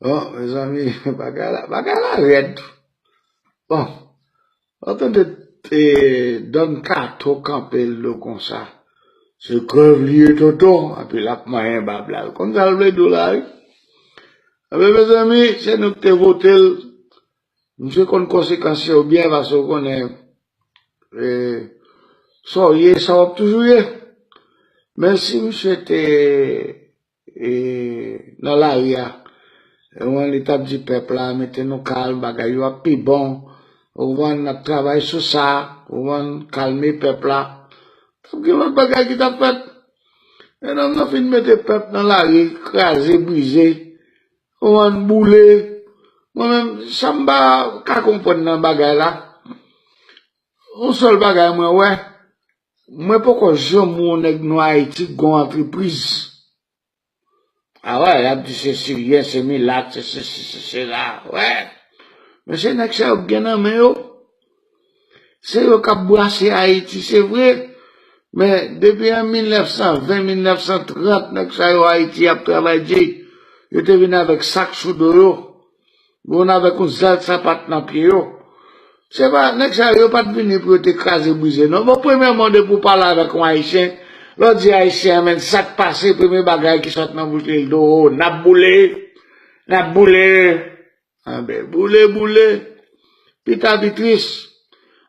Bon, mè zanmi, bagay la, bagay la rèd. Bon, an tan de te don kato kanpe lou konsa, se krèv li ye tonton, api l ap manyen bab la. Ou konn sa l vle di w la wi. A be mè zanmi, se nou ki te vote l, misye konn konsekans yo byen pase ou konnen sa w ye, sa w ap toujou ye. Men si misye te nan lari a ou konprann li tap di pèp la mete nou kalm bagay yo ap pi bon ou konprann nap travay sou sa ou konprann kalme pèp la tap gen lòt bagay ki tap fèt men nonm nan fin mete pèp nan lari kraze brize ou konprann boule mwen menm sam pa ka konprann nan bagay la yon sèl bagay mwen wè Mwen poko janm wè yon nèg nwa Ayiti k gen yon antrepriz. A wè, y ap di se siryen, se milat, se sesi, se sela. Wè! Mesye nèg sa yo k gen nan men yo, se yo k ap brase Ayiti se vre, men depi an 1920, 1930 nèg sa yo Ayiti y ap travay di, yo te vin avèk sak sou do yo. Moun avèk yon zèl sapat nan pye yo. Se pa, nèg sa yo, yo pa t vini pou yo te kraze brize non. Bon, premyèman, depi ou pale avèk yon Ayisyen, lè w di Ayisyen an menn sa k pase, premye bagay ki sot nan bouch li, li di w, o, n ap boule, n ap boule. Anben, boule, boule, pi ta pi tris.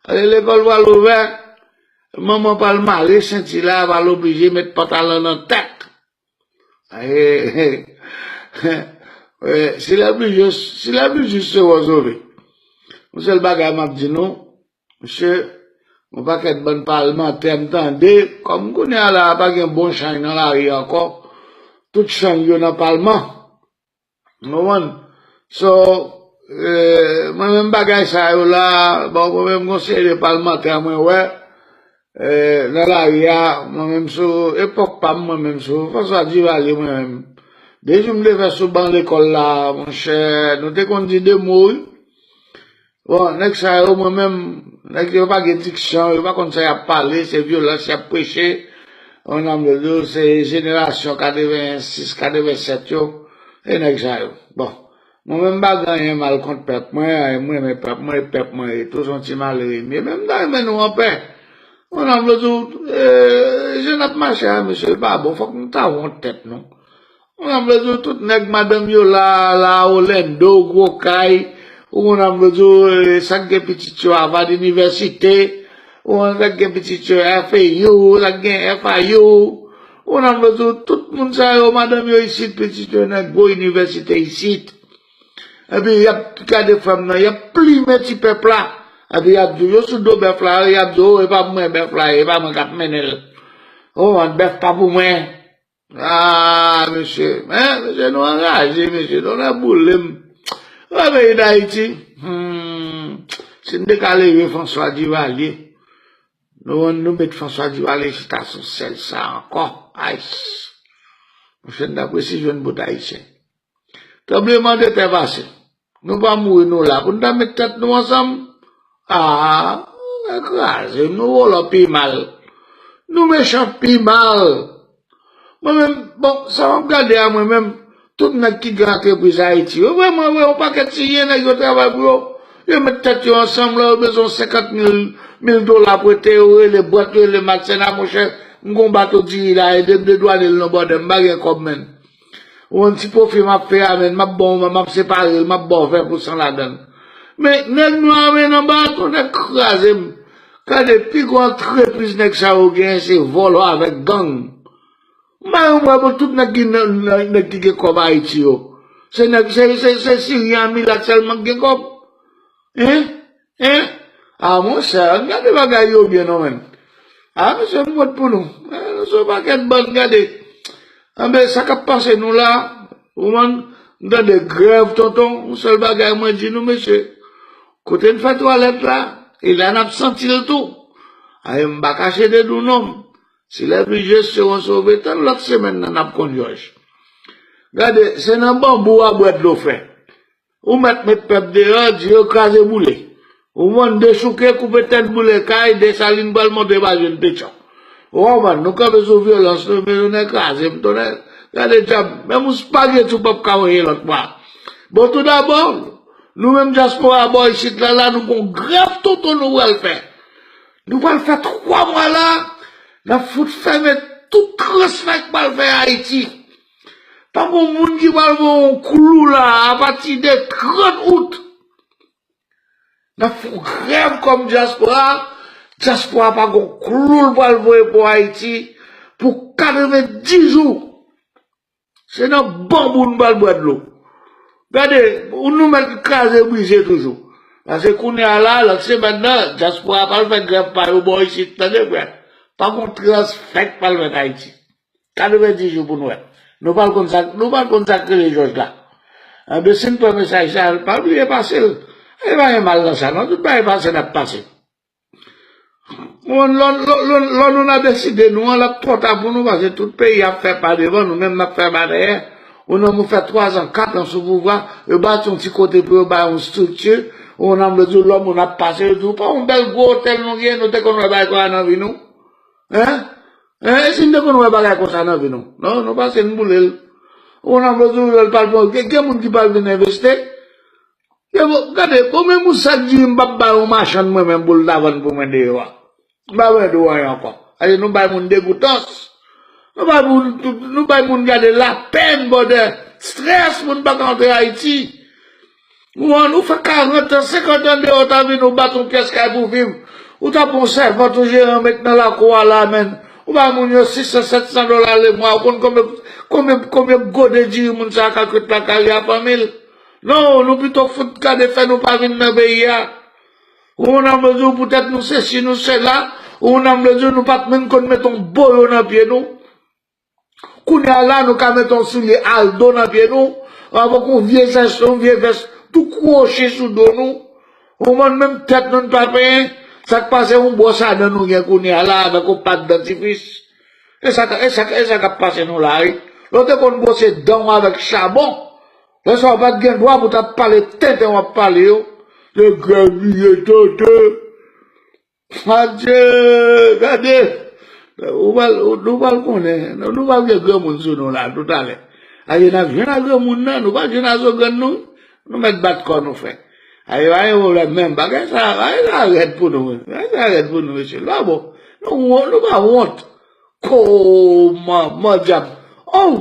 Ale lekòl pral ouvè, manman pral mare senti la, pral oblije met pantalan nan tèt. Si lè pli jis, si lè pli jis se wòz ou vle. Yon sèl bagay m ap di nou, mesye, yon pakèt bann palmantè m tande, kòm kounye a la a pa gen bon chany nan lari ankò, tout chany yo nan palman. Konprann? So, mwen menm bagay sa yo la, bon mwen menm gon seri de palmantè mwen wè, nan lari a, mwen menm sou epòk pa m mwen menm sou François Duvalier mwen menm, de jou m te fè sou ban lekòl la, monchè, nou te konn di de mo wi. Bon nèg sa yo mwen menm nèg yo pa gen diksyon yo pa konn sa yap pale se vyolans yap preche oh nan mèd yo se jenerasyon 86 87 yo e nèg sa yo bon mwen menm m pa gen anyen mal kont pèp mwen m renmen pèp mwen e pèp mwen e tou son ti malere m ye men m ta renmen nou anpè oh nan mèd yo jan nap mache a mesye l pa bon fòk nou ta wont tèt nou Mwen ap vle di w tout nèg madanm yo la la Orlando, gwo kay, ou konn ap vle di w sa k gen pitit yo Harvard University, ou konn sa k gen pitit yo FAU, sa k gen FIU, ou konn ap vle di w tout moun sa yo madanm yo isit, pitit yo nan gwo inivèsite isit. Epi y ap gade fanm nan, y ap plimen ti pèp la, epi y ap di w yo sou do bèf la, y ap di w o e pa pou mwen bèf la ye, e pa mwen k ap mennen l, ou konprann, bèf pa pou mwen. Aah mesye men mesye nou anraje mesye nou nan boulem oh peyi dayiti humm si nou te ka leve François Duvalier nou an nou met François Duvalier chita sou sèl sa ankò aysss mouche nou tap resi jwenn bout ayisyen. Tranbleman de tè pase. Nou pa mouri nou la pou nou ta met tèt nou ansanm. Aah kraze nou vòlò pi mal. Nou mechan pi mal. Mwen menm bon sa map gade a mwen menm tout nèg ki gen antrepriz ayiti yo vreman vre yon pakèt si gen nèg yo travay pou yo yo met tèt yo ansanm lè yo bezwen 50 mil dola pou ete yo rele bwat yo rele macena monchè m gon bato diri la edem dedwane l non bròdèm m pa gen kòb menn. Ou konn ti pwofi map fè a menn, map baw map separel, map baw fè pou san ladann. Men nèg nwa a menn anba a ton nèg krazem. Gade pi gwo antrepriz nèg sa yo genyen se vòlò avèk gang. M bay yon bwa pou tout nèg ki gen kòb Ayiti yo. Se nèg se siryen a milat sèlman ki gen kòb? Hein? Hein! Ah mon cher, ann gade bagay yo byen non menn. Ah mesye m wont pou nou. Nou son pakèt bann gade. Anben sa kap pase nou la, ou konprann, m tande grèv tonton, yon sèl bagay mwen di nou mesye, kote n fè twalèt la, e la nap santi l tou. Ae m pa kache de nou non. Si les pluges seront sauvés, tann lòt semèn nan nap konn jòj. Gade, se nan banbou a bwè dlo fre. Ou mèt met pèp deyò, di yo kraze boule. Ou konprann, dechouke, koupe tèt, boule kay, Desalin pral monte pa jwenn pechon. Ou konprann, nou kanpe sou vyolans, nou men jounen kraze m tonnè, gade djab, menm yon spageti ou pap ka voye lòt bò a. Bon tou dabò, nou menm dyaspora bò isit la la nou gon grèv tonton nou pral fè. Nou pral fè 3 mwa la, nap fout fèmen tout transfè k pral fè Ayiti. Pa gon moun ki pral voye yon klou la a pati de 30 out. N ap fè yon grèv kòm dyaspora, dyaspora pa gon klou l pral voye pou Ayiti pou 90 jou. Se nan banbou n pral bwè dlo. Gade, nou mèt kraze brize toujou. Pase kounye a la, lòt semèn nan, dyaspora pral fè grèv pa yo bò isit, tande byen. Pa gon transfè k pral fèt Ayiti. 90 jou pou nou wè. Nou pral konn sa, nou pral konn sak rele jòj la. Anben sin pran mesaj sa a, pa bliye pasel. E pa gen mal nan sa non, tout bagay pase nap pase. Ou konn lò lò nou nan deside nou an lap twò ta pou nou pase tout peyi a ap fè pa devan nou menm nap fè pa dèyè. Ou nan mou fè 3 zan, 4 zan sou pouvwa, yo bati yon ti kote pou yo bay yon strikti, ou nan mou diw lò moun ap pase yo diw pa yon bèl gwo otèl nou gen, nou te konn wè bagay konsa nan vi nou. Hein? Hein e si m te konn wè bagay konsa nan vi nou? Non, nou pase n boule l. Ou konn anpl toujou lè l pral pran gen moun ki pral vin enveste. Gade, bon men moun sa k di m pap bay yon machann mwen menm pou l ta vann pou mwen deyò a. M pa bezwen di w anyen ankò. Paske nou bay moun degoutans. Nou bay moun, nou bay moun gade lapèn bòdè. Strès moun pa ka antre Ayiti. Ou an ou fè 40 an, 50 an deyò ou ta vini ou bat yon pyès kay pou viv, ou ta pran yon sèvant yon jeran ou met nan lakou a la menn, ou bay moun yo 600, 700 dola lemwa, ou konn konbyen konbyen konbyen gode diri moun sa a ka kwit lakay li a fanmi l? Non, nou pito fout gade fè nou pa vin nan peyi a. Ou an ap di ou poutèt nou sesi nou sela, ou an ap di ou nou pat menm konn met yon boyo nan pye nou. Kounya la nou ka met yon soulye Aldo nan pye nou, avèk yon vye zes, yon vye vès tou kwochi sou do nou, ou konprann menm tèt nou n pa penyen, sak pase yon bwòs a dan nou gen kounya la avèk yon pat dantifris, e sa kap pase nou la wi, lè w te konn bwose dan w avèk chabon, lè sa w pat gen dwa pou tap pale tenten wap pale yo, se grèvye tenten. Adye! Gade! Nou pral konnen, nou pral gen granmoun sou nou la tout alè. Aye nap jwenn a granmoun nan, nou pa jwenn a zogrann nou, nou mèt bat kò nou frè. Aye pa gen pwoblèm menm, bagay sa a rèd pou nou, bagay sa a rèd pou nou mesye, nou pa bon, nou pa wont. Kooman, mòdyab, oww!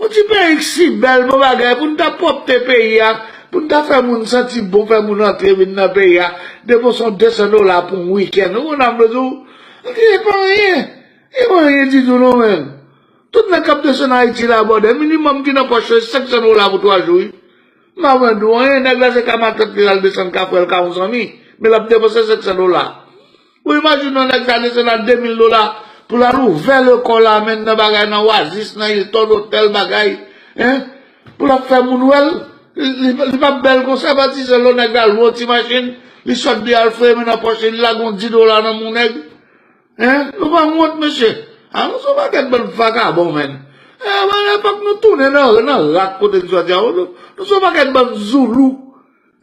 Yon ti peyi k si bèl bon bagay pou n ta pwòpte peyi a pou n ta fè moun santi bon fè moun antre vin nan peyi a depo son 200 dola pou yon wikenn ou konn ap di w antre e pa anyen e pa anyen ditou non men tout nèg kap desann ayiti la bòdè minimòm ki nan pòch yo se 500 dola pou 3 jou wi m pa pran diw anyen nèg la se ka matant li al desann kafrèl ka yon zanmi men lap depanse 500 dola. Bon imajine yon nèg sa desen la 2000 dola pou lal ouvè lekòl la menn nan bagay nan oasis nan Hilton otèl bagay hein pou lap fè moun wèl li pap bèl konsa pati se lò nèg la lwe yon ti machin li sot di al fouye men nan pòch li li lage yon 10 dola nan men yon nèg hein nou pa wont mesye ah nou son pakèt bann vakabon menn eh fòk nou tounen nan rak kote nou sot ya nou son pakèt bann zoulou.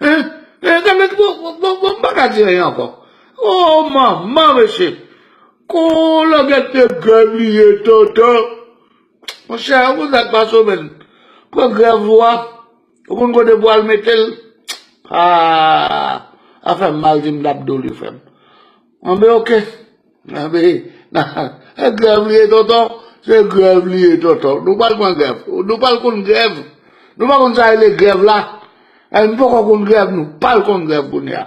Hein eh gade ki bon bon bon bon pa ka di anyen ankò oh manman mesye ooh langèt te grèv li ye tonton monchè ou konn sak pase w menn pran grèv ou a ou konn kote pou al metel aah afè mal dim dap do li frèm anben ok. Nan men nan grèv li ye tonton se grèv li ye tonton nou pa pran grèv nou pa konn grèv nou pa konn sa rele grèv la nou poko konn grèv nou pral konn grèv kounya.